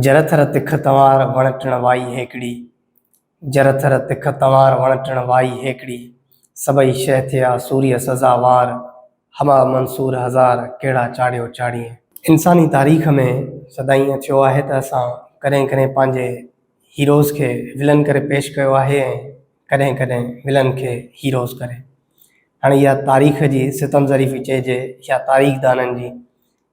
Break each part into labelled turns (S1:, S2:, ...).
S1: جر ٿر تک تنوار وڻ ٽڻ وائي هيڪڙي جر ٿر تک تنوار وڻ ٽڻ وائي هيڪڙي سڀئي شيء ٿئا سوريء سزاوار همه منصور هزار ڪهڙا چاڙهيو چاڙهيين. انساني تاريخ ۾ سدائين ائين ٿيو آهي ته اسان ڪڏهن ڪڏهن پنهنجي هيروز کي ولن ڪري پيش ڪيو آهي ۽ ڪڏهن ڪڏهن ولن کي هيروز ڪري. هاڻي اها تاريخ جي ستم ظريفي چئجي يا تاريخ دانن جي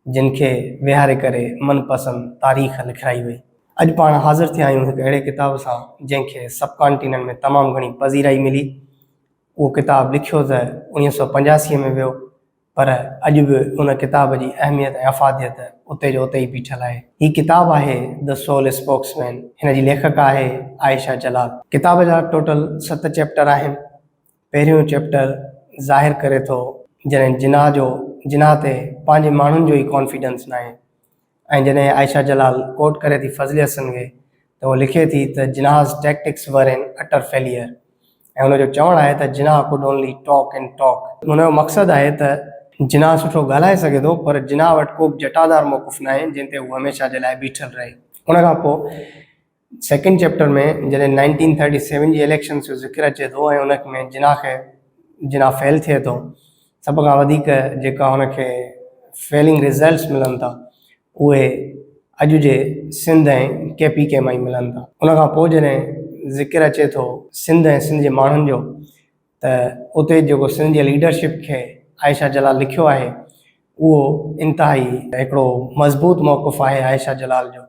S1: جن کي ويهاري ڪري من پسند تاريخ لکرائي وئي. اڄ پاڻ حاضر ٿيا آهيون هڪ اهڙي ڪتاب سان جنهن کي سب ڪانٽيننٽ ۾ تمام گهڻي پذيرائي ملي. اهو ڪتاب لکيو ته انويهه سؤ پنجاسي ۾ ويو پر اڄ به ان ڪتاب جي اهميت ۽ افاديت اتي جو اتي ئي بيٺل آهي. هي ڪتاب آهي The Soul Spokesman. هن جي ليکڪه آهي عائشه جلال. ڪتاب جا ٽوٽل ست چيپٽر آهن. پهريون چيپٽر ظاهر ڪري ٿو جڏهن جناح جو جناح تي پنهنجي ماڻهن جو ئي ڪانفيڊنس ناهي. ۽ جڏهن عائشه جلال ڪوٽ ڪري ٿي فضلي حسن کي ته هوء لکي ٿي ته Jinnah's tactics were an utter failure ۽ هن جو چوڻ آهي ته Jinnah could only talk and talk. هن جو مقصد آهي ته جناح سٺو ڳالهائي سگهي ٿو پر جناح وٽ ڪوبه جٽادار موقف ناهي جنهن تي هو هميشه جي لاء بيٺل رهي ان کان پوء. سيڪنڊ چيپٽر ۾ جڏهن نائنٽين ٿرٽي سيون جي اليڪشنز جو ذڪر اچي ٿو ۽ ان ۾ جناح کي جناح فيل ٿئي ٿو سڀ کان وڌيڪ جيڪا ان کي فيلنگ رزلٽس ملن ٿا اهي اڄ جي سنڌ ۽ ڪي پي ڪي مان ئي ملن ٿا ان کان پوء جڏهن ذڪر اچي ٿو سنڌ ۽ سنڌ جي ماڻهن جو ته اتي جيڪو سنڌ جي ليڊرشپ کي عائشه جلال لکيو آهي اهو انتهائي هڪڙو مضبوط موقف آهي عائشه جلال جو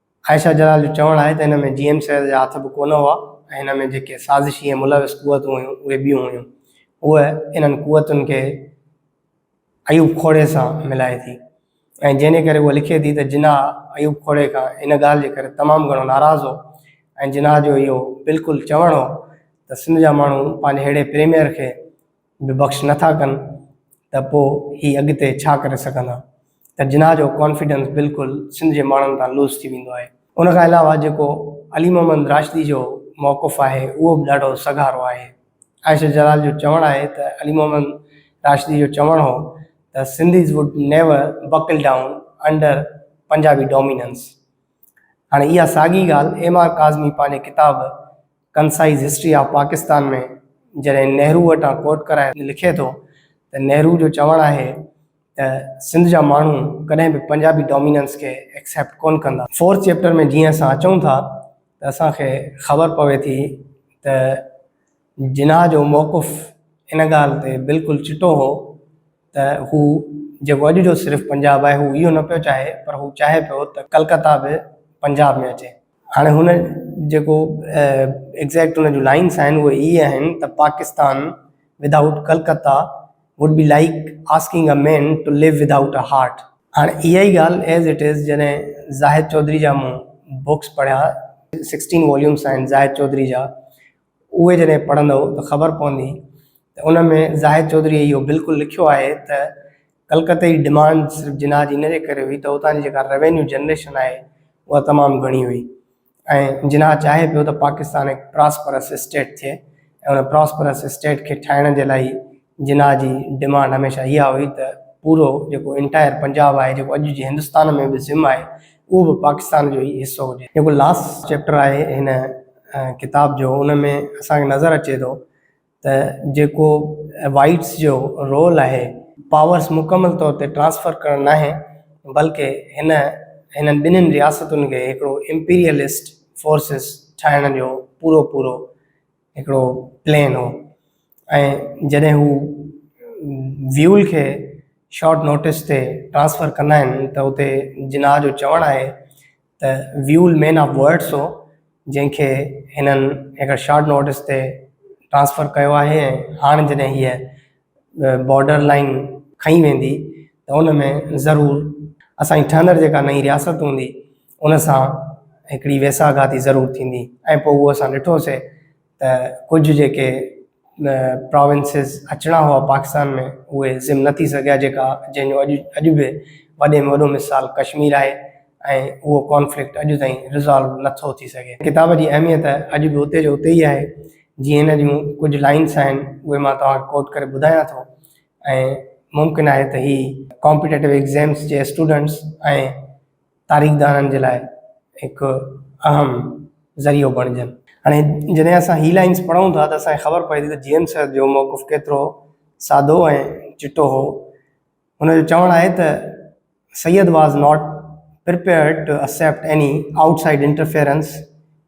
S1: عائشه جلال جو چوڻ آهي ته ان ۾ جي ايم سيد جا هٿ به ڪونه هئا ۽ ان ۾ جيڪي سازشي ۽ ملوث قوتون هيون اهي ٻيون هيون. هوء انهن قوتن کي ايوب کوڙي سان ملائي ٿي ۽ جنهن ڪري هوء لکي ٿي ته جناح ايوب کوڙي کان ان ڳالهه جي ڪري تمام گهڻو ناراض هو ۽ جناح جو اهو بلڪل چوڻ هو ته سنڌ جا ماڻهو پنهنجي ههڙي پريميئر کي به بخش نه ٿا ڪن ته پوء هي اڳتي ڇا ڪري سگهندا ته جناح جو ڪانفيڊنس بلڪل سنڌ جي ماڻهن تان لوس ٿي ويندو آهي. ان کان علاوه جيڪو علي محمد راشدي جو موقف آهي اهو به ڏاڍو سگهارو آهي. عائشه جلال جو چوڻ آهي ته علي محمد راشدي جو چوڻ هو ته Sindhis would never buckle down under Punjabi dominance. هاڻي اها ساڳي ڳالهه ايم آر ڪاظمي پنهنجي ڪتاب Concise History of Pakistan ۾ جڏهن نهرو وٽان ڪوٽ ڪرائي لکي ٿو ته نهرو جو چوڻ آهي ته سنڌ جا ماڻهو ڪڏهن به پنجابي ڊوميننس کي ايڪسيپٽ ڪونه ڪندا. فورٿ چيپٽر ۾ جيئن اسان اچون ٿا ته اسان کي خبر پوي ٿي ته جناح جو موقف ان ڳالهه تي بلڪل چٽو هو ته هو جيڪو اڄ جو صرف پنجاب آهي هو اهو نه پيو چاهي پر هو چاهي پيو ته ڪلڪتا به پنجاب ۾ اچي. هاڻي هن جيڪو ايگزيڪٽ هن جون لائنس آهن اهي هي آهن ته Pakistan without Calcutta would be like asking a man to live without a heart هاڻي اها ئي ڳالهه ايز اٽ از جڏهن زاهد چوڌري جا مون بوڪس پڙهيا سڪسٽين واليومس آهن زاهد چوڌري جا اهي جڏهن پڙهندؤ ته خبر پوندي ته ان ۾ زاهد چوڌريء اهو بلڪل لکيو آهي ته ڪلڪته جي ڊمانڊ صرف جناح جي ان جي ڪري هئي ته اتان جي جيڪا روينيو جنريشن آهي اها تمام گهڻي هئي ۽ جناح چاهي پيو ته پاڪستان هڪ پراسپرس اسٽيٽ ٿئي ۽ ان پراسپرس اسٽيٽ کي ٺاهڻ جي لاء ئي جناح جي ڊمانڊ هميشه اها هئي ته پورو جيڪو انٽائر پنجاب آهي جيڪو اڄ جي هندستان ۾ به ضم آهي اهو به پاڪستان جو ئي حصو هجي. جيڪو لاسٽ چيپٽر آهي هن ڪتاب جو ان ۾ اسان کي نظر اچي ٿو ته جيڪو وائيٽس جو رول آهي پاورس مڪمل طور تي ٽرانسفر ڪرڻ ناهي بلڪه هن هنن ٻنهين رياستن کي هڪڙو امپيريلسٽ فورسز ٺاهڻ جو پورو پورو هڪڙو پلين هو ۽ جڏهن هو ويول کي شارٽ نوٽس تي ٽرانسفر ڪندا آهن ته اتي جناح جو چوڻ آهي ته ويول مين آف ورڊس هو جنهن کي هنن هڪڙي شارٽ نوٽس تي ٽرانسفر ڪيو آهي ۽ هاڻ جڏهن هيء بارڊر لائين کنئي ويندي ته ان ۾ ضرور اسان جي ٺهندڙ جيڪا نئين رياست هوندي ان سان هڪڙي ويساهه گهاتي ضرور ٿيندي ۽ پوء اهو اسان ڏٺوسي ته ڪجهه جيڪي پراونسز اچڻا هئا پاڪستان ۾ اهي ضم نه ٿي سگهيا جيڪا جنهن جو اڄ اڄ به وڏي ۾ وڏو مثال ڪشمير آهي ۽ اهو ڪانفلڪٽ اڄ تائين ريزالو نه ٿو ٿي سگهي. ڪتاب جي اهميت اڄ به اتي جو اتي ئي آهي جيئن هن جون ڪجهه لائنس آهن اهي مان توهان کي ڪوٽ ڪري ٻڌايان ٿو ۽ ممڪن آهي ته هي ڪامپيٽيٽو ايگزيمز جي اسٽوڊنٽس ۽ تاريخدانن جي لاء هڪ اهم ذريعو بڻجن. هاڻي جڏهن اسان هي لائنز پڙهون ٿا ته اسان کي خبر پوي ٿي ته جي ايم سيد جو موقف ڪيترو سادو ۽ چٽو هو. هن جو چوڻ آهي ته Syed was not prepared to accept any outside interference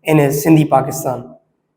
S1: in his Sindhi Pakistan.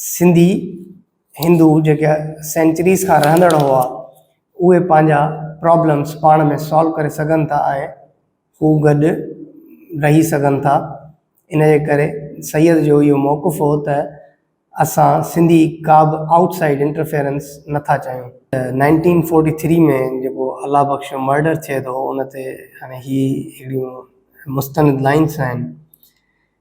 S1: Sindhi Hindu جيڪي سينچريز کان رهندڙ هئا اهي پنهنجا پرابلمس پاڻ ۾ سالو ڪري سگهن ٿا ۽ هو گڏ رهي سگهن ٿا ان جي ڪري سيد جو اهو موقف هو ته اسان سنڌي ڪا به آئوٽ سائيڊ انٽرفيئرنس نٿا چاهيون نائنٽين فورٽي ٿري ۾ جيڪو الله بخش جو مرڊر ٿئي ٿو ان تي هاڻي هي اهڙيون مستند لائنس آهن.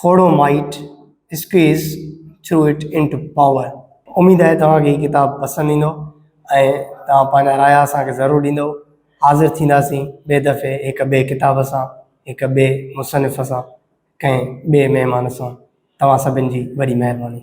S1: Khuhro might squeeze through it into power. اميد آهي توهان کي هي ڪتاب پسند ايندو ۽ توهان پنهنجا رايا اسان کي ضرور ڏيندؤ. حاضر ٿينداسين ٻئي دفعي هڪ ٻئي ڪتاب سان، هڪ ٻئي مصنف سان، ڪنهن ٻئي مهمان سان. توهان سڀن جي وڏي مهرباني.